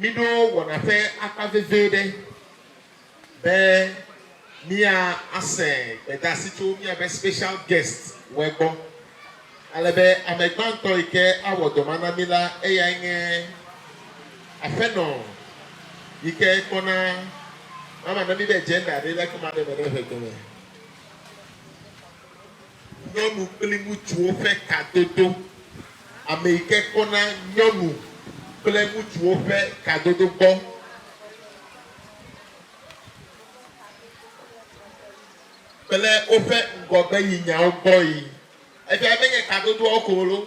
Miɖo wɔna ƒe akpa vevi ɖe be míase gbedasi tso míaƒe special guest wɛ gbɔ. Ale be ame gbãtɔ yi ke awɔ dɔ ma na mí la, eyae nye aƒenɔ yi ke kpɔna mama na mí be gender ɖe le ekema ɖe me ɖe ʋegbe me. Nyɔnu kple ŋutsuwo ƒe kadodo. Ame yi ke kpɔna nyɔnu kple ŋutsuwo ƒe kadodo gbɔ. Kple woƒe ŋgɔgbeyinyawo gbɔe. Efiae be nye kadodoawo ko wolo.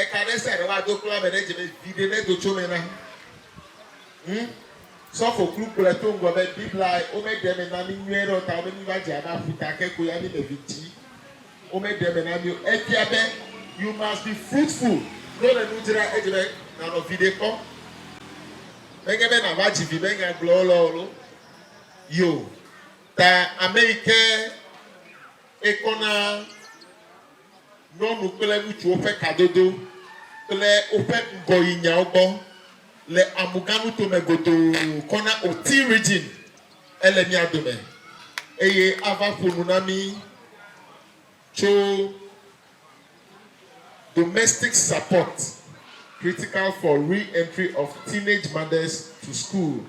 Eka ɖe sia ɖe woado kpla ame ɖe dzi me, viɖe nedo tso eme na. Ŋ, sɔfo klu kplɔe to ŋgɔ be, Biblae, wome ɖe eme na mi nyuie ɖe o ta wome miva dze abe aƒuta ke ko ya mi me vi ti wome ɖe eme na mi o. Efia be you must be fruitful ne wole nu dzra edzi be nanɔ viɖe kpɔ. Menye be nava dzi vi be nya gblɔwo lɔ olo yo ta ameyike ekɔna Nyɔnu kple ŋutsuwo ƒe kadodo kple woƒe ŋgɔyinyawo gbɔ le Amuga nuto me godoo kɔ na Oti Region. Ele mía dome eye ava ƒo nu na mí tso Domestic Support, Critical for Re-Entry of Teenage Mothers to School.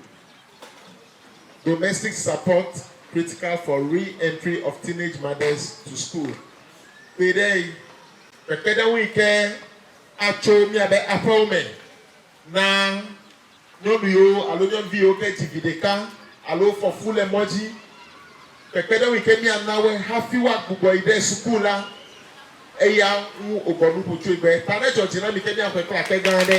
Domestic Support Critical for Re-Entry of Teenage Mothers to School, kpe ɖe eŋ, kpekpeɖeŋu yi ke atso míabe aƒewo me na nyɔnu yiwo alo nyɔnuvi yiwo ke dzi vi ɖeka alo wofɔ fu le mɔ dzi. Kpekpeɖeŋu yi ke míana wɔe hafi woagbugbɔ yi ɖe suku la, eya ŋu wògɔ nu ƒu tsoe be, Ta nedzɔ dzi na mi ke míaxɔe kple akpe gã aɖe.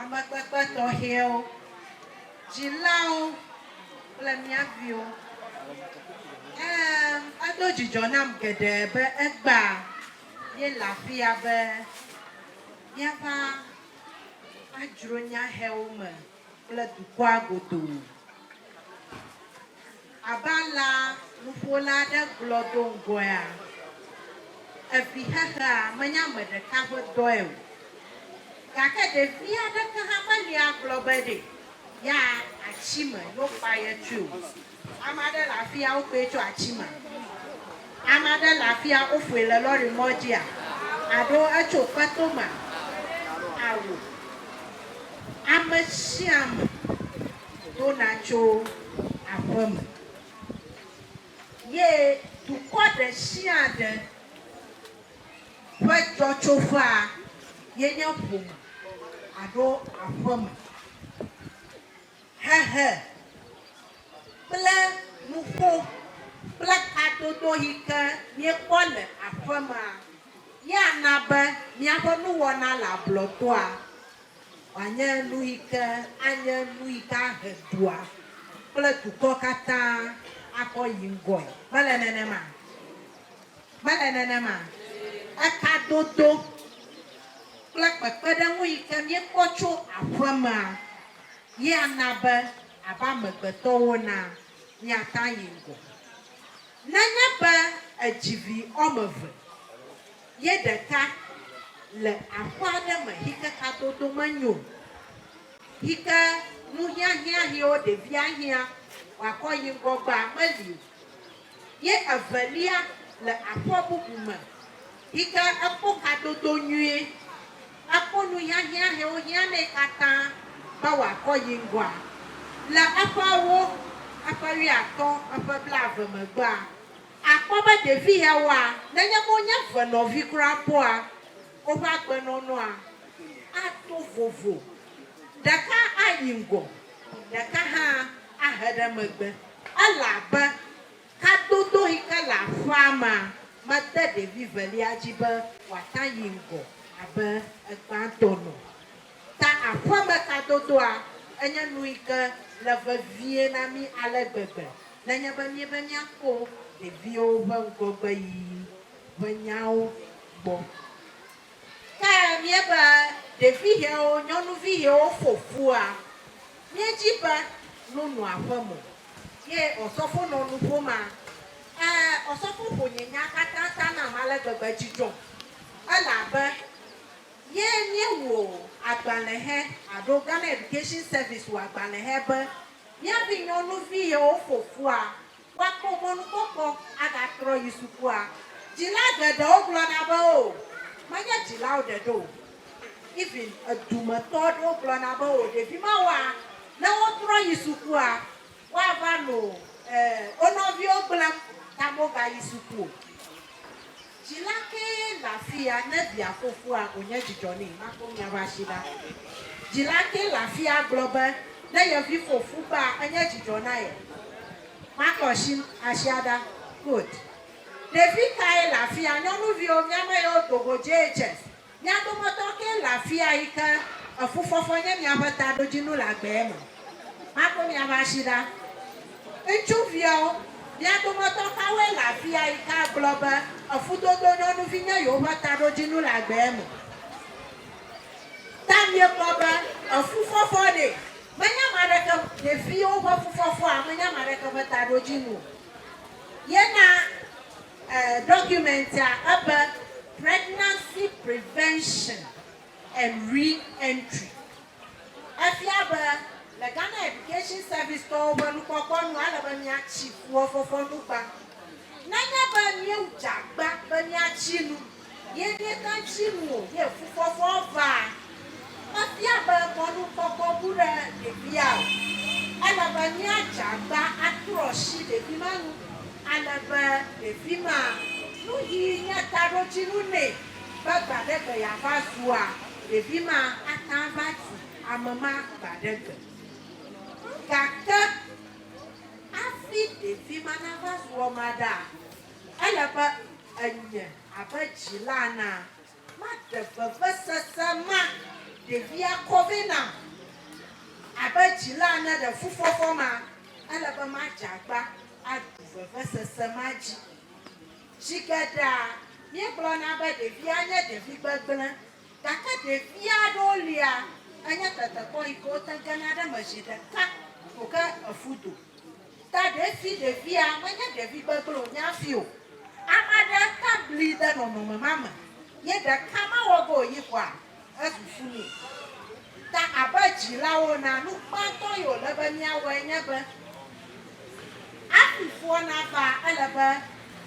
Amekpekpe tɔxɛwo, dzilawo kple mía viwo. Ɛ̃, edo dzidzɔ nam geɖe be egbea míele afia be míava adzro nyahɛwo me kple dukɔa godoo. Abe alea nuƒola aɖe gblɔ do ŋgɔea evi xexea menye ame ɖeka ƒe dɔe o. Gake ɖevi aɖeke hã meli agblɔ be ɖe yeayi atsi me ne wokpa ye tsui o. Ame aɖe le afia wokpae tso atsi mea? Ame aɖe le afia woƒoe le lɔri mɔ dzia? Alo etso kpeto mea? Ao, ame sia ame. dona tso aƒe me, ye dukɔ ɖesiaɖe ƒe dzɔtsoƒea ye nye ƒome alo aƒeme. Hehe kple nuƒo kple kadodo yi ke míekpɔ le aƒemea ye ana be míaƒe nuwɔna le ablɔtoa Wòanye nu yi ke anye nu yi ke ahe dua kple dukɔ katã akɔ yi ŋgɔe. Mele nenema? Mele nenema? Ekadodo kple kpekpeɖeŋu yi ke míekpɔ tso aƒemea ye ana be abe amegbetɔwo na míata yi ŋgɔ. Nenye be èdzi vi woame eve. Ye ɖeka le aƒe aɖe me xike kadodo menyo o, xike nuhiahiã xewo ɖevi ahiã wakɔ yi ŋgɔ gba meli o. Ye evelia le aƒe bubu me xike ekpɔ kadodo nyuie, ekpɔ nuhiahiã xewo hiã nɛ katã be wakɔ yi ŋgɔa. Le eƒe awo eƒe wuiatɔ̃ eƒe blaeve megbea, Àkpɔ be ɖevi yawoa, nenye wonye eve nɔvi kura bɔa, woƒe agbenɔnɔa ato vovo, ɖeka ayi ŋgɔ, ɖeka hã ahe ɖe megbe, elabe kadodoɣi ke le aƒea mea mede ɖevi velia dzi be wòata yi ŋgɔ abe egbãtɔ nu. Ta aƒeme kadodoa enye nuyike le vevie na mí ale gbegbe nenye be míebe míakpɔ ɖeviwo ƒe ŋgɔgbeyiyi ƒe nyawo gbɔ. Ke míebe ɖevihewo nyɔnuvihewo fo fua, míedzi be nu nɔ aƒe mo. Ye Ɔsɔfo nɔ nu ƒom a? Ẽ, Ɔsɔfo ƒo nye nya katã ta nam ale gbegbe dzi dzɔm elabe. Ye míewu o agbalẽhe alo Ghana Education Service wu agbalẽhe be mía vinyɔnuvi yewo fofoa woakpɔ mɔnukpɔkpɔ agatrɔ yi sukua. Dzila geɖewo gblɔna be o, menye dzilawo ɖeɖe o. Even edumetɔ aɖewo gblɔna be o, ɖevi mawoa, ne wotrɔ yi sukua, woava nɔ e wo nɔviwo gblẽm ta mogayi suku o. Dzila kee le afia ne via ƒo fua wònye dzidzɔ nɛ. Makpɔ mia ƒe asi ɖa. Dzila kee le afia gblɔ be ne ye vi ƒo fu kpea enye dzidzɔ na ye. Makpɔ asi asia ɖa. Quote, Ɖevi kae le afia? Nyɔnuviwo, mía me yewo do go JHS. Mia dometɔ kee le afia yi ke efufɔfɔ nye miaƒe taɖodzinu le agbee me? Maɖo miaƒe asi ɖa. Ŋutsuviawo, mia dometɔ kawoe le afia yi ke agblɔ be efudodo nyɔnuvi nye yewoƒe taɖodzinu le agbee me? Ta miegblɔ be efufɔfɔ ɖee. Menye ame aɖeke, ɖeviwo ƒe fufɔfɔa, menye ame aɖeke ƒe taɖodzinu o. Ye na Dɔkumentia ebe Pregnancy Prevention and Re-Entry. Efia be le Ghana Education Service tɔwo ƒe nukpɔkpɔ nu, ele be míatsi fuwɔfɔfɔ nu gbã. Nenye be míedze agba be míatsi nu Ye míeka tsi nu ye fukpɔkpɔ va. Mefia be mɔnukpɔkpɔ ŋu ɖe ɖevia o. Ele be míadze agba atrɔ asi ɖevi ma nu ale be ɖevi ma nu ɣi nye taɖodzinu nɛ be gba ɖe gbe yeava zua ɖevi ma ate ŋu ava tu ame ma gba ɖe gbe. Gake hafi ɖevi ma nava zu ema ɖaa, Ele be enye abe dzila ena, maɖe vevesese ma ɖevia kɔ vɛ nam. Abe dzila ene le fufɔfɔ ma, ele be madze agba aɖu vevesese ma dzi. Zi geɖea, míegblɔna be ɖevia nye ɖevi gbegblẽ, gake ɖevi aɖewo lia, enye tetekpɔ yi ke wote gena ɖe eme zi ɖeka ko ke efu do. Ta ɖe si ɖevia menye ɖevi gbegblẽ o nya si o. Ame aɖe ka bli ɖe nɔnɔme ma me ye ɖeka mawɔ ge o yi ƒoa esusu nɛ. Ta abe dzilawo enea, nu gbãtɔ yi wòle be míawɔe nye be, hafi foa nava, ele be,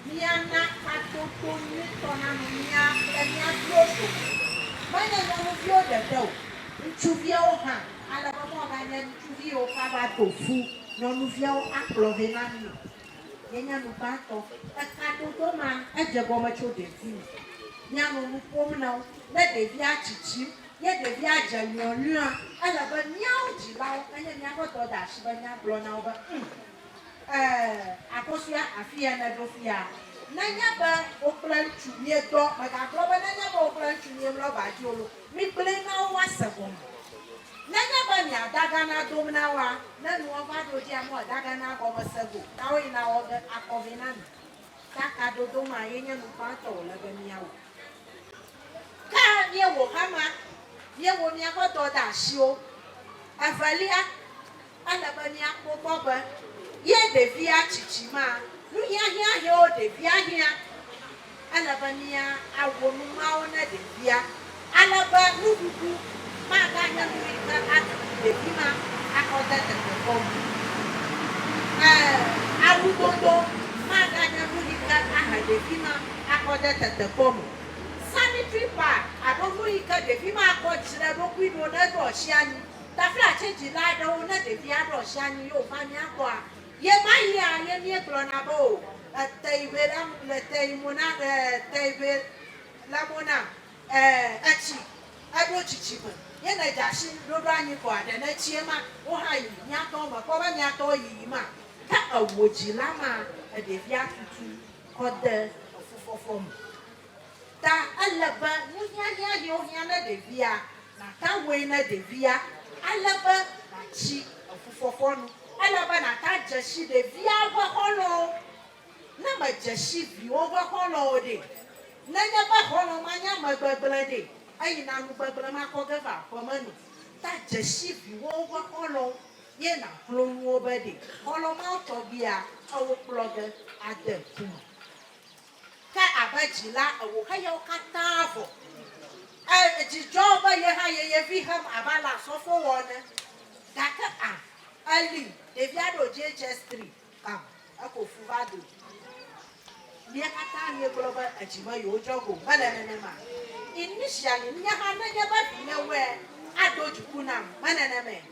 Míana hatsotso nyuitɔ nanɔ mía kple mía viwo dome, menye nyɔnuviwo ɖeɖe o, ŋutsuviawo hã, ale be mɔganye ŋutsuvi yiwo ke ava to ƒu nyɔnuviawo akplɔ vɛ na mí o. Yenye nu gbãtɔ. Ekadodo ma, edze egɔme tso ɖevime. Míanɔ nu ƒom na wo. Ne ɖevia tsitsim, ye ɖevia dze lɔlɔ̃a, ele be míawo dzilawo, enye míaƒe dɔdeasi be míagblɔ na wo be, Ŋ! Eee, akosua afia nèɖo fia. Nenye be wò kple ŋutsu miedɔ, mègagblɔ be nenye be wò kple ŋutsu miemlɔ ba dzi o lo, migblɔe na wo woase gɔme. Nenye be mia dagana dom na woa, ne nua va ɖo dzia mɔ daganaa gɔme se go ta woe na wɔ ge akɔ vɛ na mi. Ta kadodo ma ye nye nu gbãtɔ wòle be miawɔ. Ke miewɔ hama, miewo miaƒe dɔdeasiwo. Evelia. Ele be míakpɔ egbɔ be ye ɖevia tsitsi ma nu hiahiã hɛwo ɖevia hiã. Ele be mía awo nu mawo ne ɖevia, ale be nuɖuɖu maga nye nu yi ke aɖe fu ɖevi ma axɔ de tetekpɔ me. Ẽ, awu dodo maga nye nu yi ke ahe ɖevi ma axɔ de tetekpɔ me. Sanitary pad alo nu yi ke ɖevi ma akɔ dzi ɖe eɖokui ɖo ne eɖo asi anyi. Tafla tsɛ dzila aɖewo ne ɖevia ɖo asi anyi ye wòva mía gbɔa, ɣemaɣia ye míegblɔna be o, ète ŋe la le te ŋe mo na ee, te ŋe le mo nam ee, etsi, eɖo tsitsi me ye nèdze asi ɖo ɖo anyi vɔa, ɖe nètsi ema wo hã yi mía tɔwo me kpɔ be mía tɔwo yiyim a? Ke ewo dzila ma, eɖevia tutu kɔ de efufɔfɔ me. Ta ele be nuhiahiã yi wohiã ne ɖevia, nàta woe ne ɖevia, ale be nàtsi efufɔfɔ nu. Ele be nàta dzesi ɖevia ƒe xɔlɔ̃wo. Ne mèdzesi viwò ƒe xɔlɔ̃ o ɖe? Nenye be xɔlɔ̃ ma nye ame gbegblẽ ɖe? Eyi na nu gbegblẽ ma kɔ ge va aƒe me nɛ. Ta dzesi viwò ƒe xɔlɔ̃wo, ye nàklo nu wo be ɖe xɔlɔ̃ mawo tɔgbia eo kplɔ ge ade ku me. Ke abe dzila ewo xe yawo katã vɔ. E, edzi dzɔ wo be ye hã ye ye vi hem abe ale asɔfo wɔ ene. Gake a, eli, ɖevi aɖe wo JHS tri, kam, eko fu va do. Mía katã míegblɔ be edzi me yewo dzɔ go. Mele nenema? Initially, nye hã ne nye be vi ne wɔe, aɖo dziku nam. Mele nenema?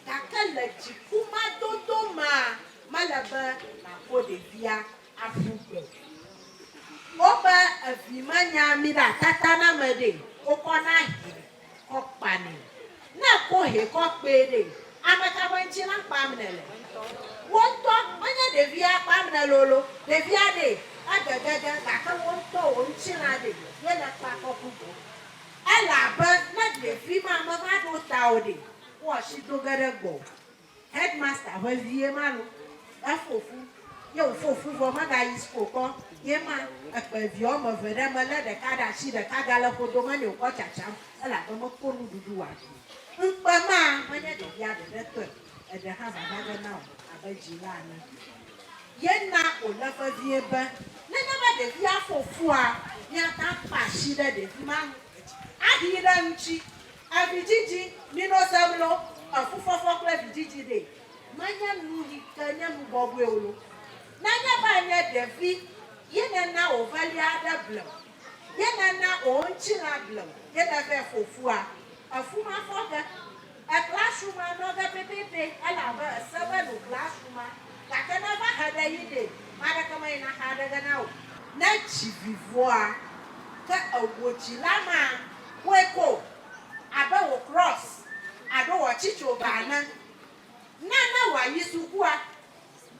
Gake le dziku ma dodo mea, mele be nàƒo ɖevia. Aƒu gbe. Woƒe evi menya mi ɖe atata na me ɖe, wokɔ na hɛ kɔ kpa nɛ. Ne ko hɛ kɔ kpee ɖe, ameka ƒe ŋtsi na kpam ne le? Wo ŋtɔ, menye ɖevia kpam ne lolo, ɖevia ɖe ege gege gake wo ŋtɔ wo ŋtsi na ɖe ye le kpa kɔ ƒu gbe. Ele abe ne ɖevi ma meva ɖo ta o ɖe, wo asi do ge ɖe gbɔ o. Headmaster vevie ma lo. Efo fu. Ye wofo fu vɔ mega yi school kpɔ. Ye ma ekpe eviɛ woame eve ɖe me lé ɖeka ɖe ashi ɖeka ga le ƒodo me nɛ wokɔ tsatsam elabe me kpɔ nuɖuɖu wa ɖui o. Ŋkpe ma me nye ɖevia ɖeɖe tɔe o. Eɖe hã vava ge na wò abe dzila ene. Ye na wo le vevie be nenema ɖevia fo fua, mia ta kpa ashi ɖe ɖevi ma ŋu. Aɖii ɖe eŋutsi. Avidzidzi, Minɔ ta mlɔ, afufafa kple vidzidzi ɖee. Manye nu yi ke nye nu bɔbɔe o lo. Nenye be ènye ɖevi ye nèna wò velia aɖe ble o, ye nèna wò ŋutilã ble o, ye nèvɛ fofua, efu mafɔ ge. Èkpla asu ma nɔ ge pɛpɛpɛ elabe èse be nukpla asu ma, gake ne eva he ɖe yi ɖee, ame aɖeke meyina axa ɖe ge na wò. Ne dzi vi vɔa, ke ewò dzila ma. Kpɔe kpo, abe wò krɔs alo wò atsitsoga ene. Na ne wòayi sukua.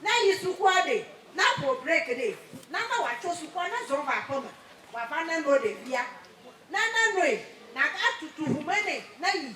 Ne yi sukua ɖe, na ƒo breki nɛ. Na ne wòatso sukua, na zɔ va aƒeme wòava neno ɖevia. Ne nenoe, nàgatutu ŋume nɛ ne yi.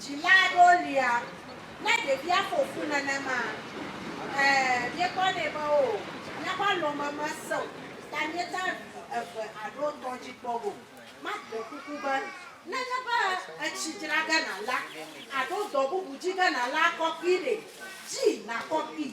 Dzila aɖewo lia, ne ɖevia ƒo fu nenema, ẽ, míekpɔnɛ be o, míaƒe alɔme mesẽ o, ta míetea vi eve alo etɔ̃ dzi kpɔ go. Mark ɖe kuku be, Ne nye be etsi dzra ge nàla, alo dɔ bubu dzi ge nàla, kɔ kpee ɖe, dzi nàkɔ kpee.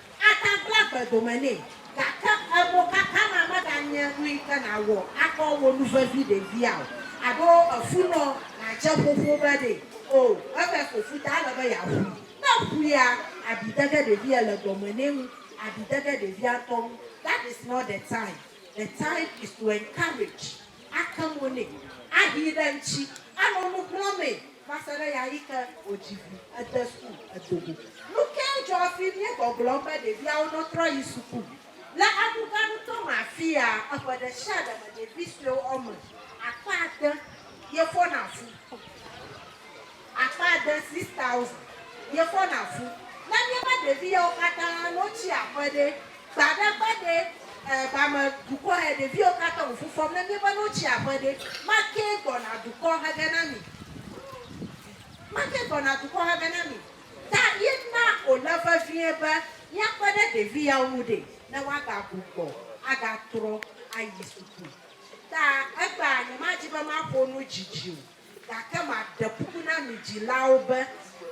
Ata kple agbe dome nɛ, gake emokaka ma meganye nuyi ke nàwɔ akpɔ wò nu vevi ɖevia o, alo efunɔ nàdze ƒoƒo be ɖe o, eve ko ƒuta ele be yeaƒui. Ne eƒuia, abi de ge ɖevia le dɔme nɛ wu abi de ge ɖevia ŋutɔ ŋu. That is not the time. The time is to encourage. ake mo nɛ, ahee ɖe ŋuti, anɔ nu xlɔ̃mee va se ɖe ɣeaɣi ke wòdzi vi, ede sukuu, edo go. Nu kae dzɔ hafi míegbɔgblɔm be ɖeviawo nɔtrɔ yi suku? Le aɖuga nutɔ me afia, eƒe ɖesiaɖe me ɖevi suewo wɔme akpa ade ye fɔna fu. Akpa ade, 6000, miefɔna fu. Ne miebe ɖevi yawo katã no tsi aƒe ɖe? Gbaɖegbaɖe, ɛɛ, ba me dukɔ yɛ ɖeviwo katã wo fu fɔm. Ne miebe no tsi aƒe ɖe? Makee gbɔna dukɔ hege na mi. Makee gbɔna dukɔ hege na mi. Ta ye na wòle vevie be míakpe ɖe ɖevi yawo ŋu ɖe, ne woagagbugbɔ agatrɔ ayi suku. Ta egbea, nyemadi be maƒo nu didi o. Gake maɖe kuku na mi dzilawo be,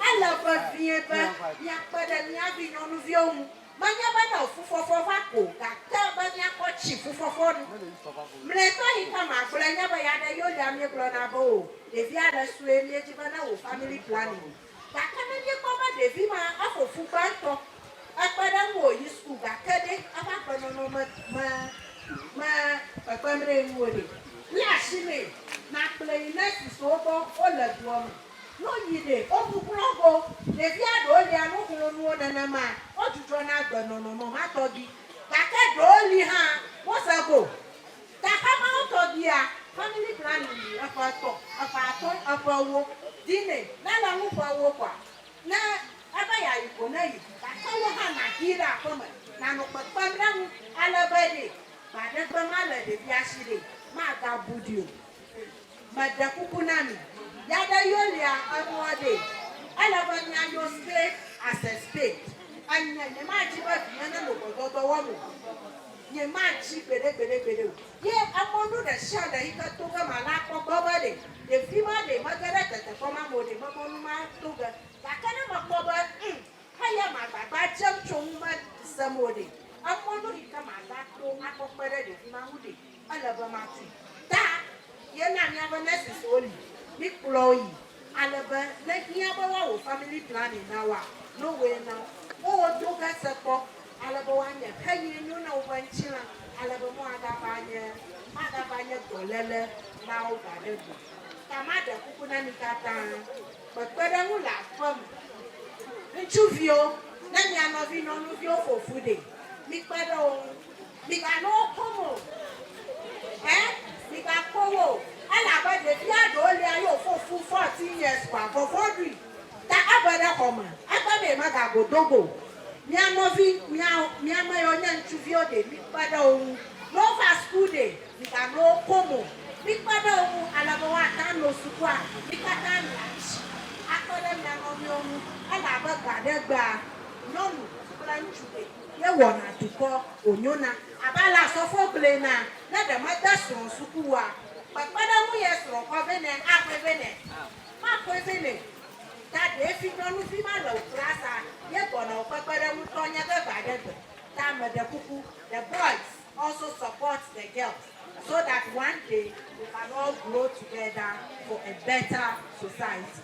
ele vevie be miakpe ɖe mía vinyɔnuviwo ŋu, menye be ne fufɔfɔ va ko o, gake be míakpɔ tsi fufɔfɔ nu. Mlɔetɔ yi ke magblɔe nye be ya ɖe Yolia míegblɔna be o, ɖevia le sue, míedi be ne wò family planning. Gake ne míekpɔ be ɖevi ma eƒo fu gbãtɔ, ekpe ɖe eŋu wòyi suku gake ɖe eƒe agbenɔnɔ me me me kpekpem ɖe ŋu o ɖe? Lé asi nɛ nàkplɔe yi nɔsi siwo gbɔ wole dua me. Ne woyi ɖe, wobu kplɔ̃ go. Ɖevia ɖewo lia nu xlɔ̃ nuwo nenema wodzudzɔna agbenɔnɔ me ma tɔgbi. Gake ɖewo li hã, woze go. Gaxɔ mawo tɔ bia family planning yi eƒe etɔ̃, eƒe atɔ̃, eƒe ewo dzi nɛ. Ne le ŋu ƒe ewo kɔa, ne ebe yeayi ko ne yi, gake wò hã nàxii ɖe aƒeme, nànɔ kpekpem ɖe eŋu ale be ɖee gbaɖegbe malé ɖevia si ɖee, magabu ɖi o. Meɖe kuku na mi, ya ɖe Yolia enua ɖe, ele be mianyo straight as a spade. Enye, nyemadzi be vinye nenɔ gbɔdɔdɔ wɔm o. Nyemadzi gbeɖegbeɖegbeɖe o. Ye emɔ nu ɖeshiaɖe yi ke to ge mana kpɔ gbɔ be ɖe ɖevi ma ɖe mege ɖe tetekpɔ ma me o, ɖe memɔ nu mato ge. Gake ne mekpɔ be, ŋm, eya magbagba dzem tso ŋu mesem o ɖe, emɔ nu yi ke mava to akpɔ kpe ɖe ɖevi ma ŋu ɖe? Ele be mati ta ye na miabe nurses wo li, mi kplɔ wo yi ale be ne hiã be woa wò family planning na woa, no way na wo. Wo wo do ge se kpɔ ale be woa nye xe ye nyo na woƒe ŋtilã ale be mo aga va nye, maga va nye dɔlele na wo gba ɖe gbe. Ta ma ɖe kuku na mi katã kpekpe ɖe ŋu le aƒe me. Ŋutsuviwo, ne mia nɔvi nɔnuviwo fo fu ɖe, mi kpe ɖe wo ŋu. Migano wo kom o. Ẽ, migako wo o. Elabe ɖevia ɖewo lia ye wofɔ fu fourteen years kpɔa vɔvɔ̃ ɖui, ta eve ɖe xɔ me, ekpe be yemegago do go o. Mia nɔvi, mia, mia me yiwo nye ŋutsuviwo ɖe, mikpe ɖe wo ŋu. Ne wova suku ɖe, migano wo kom o. Mikpe ɖe wo ŋu ale be woate ŋu ano sukua. Mi katã miaɖi tsi akpe ɖe mia nɔviwo ŋu, elabe gbe aɖe gbea, nyɔnu kple ŋutsu ɖe. Ye wɔna dukɔ wònyona. Abe ale asɔfo gblɔe na ne ɖe mede srɔ̃ suku oa, kpekpeɖeŋu ye srɔ̃ kɔ vɛ nɛ axɔe vɛ nɛ. Maxɔe vɛ nɛ. Ta ɖee finyɔnuvi ma le wò kpla sa ye gbɔna wò kpekpeɖeŋu tɔ nye veve aɖe gbe. Ta me ɖe kuku, the boys also support the girls so that one day we can all grow together for a better society.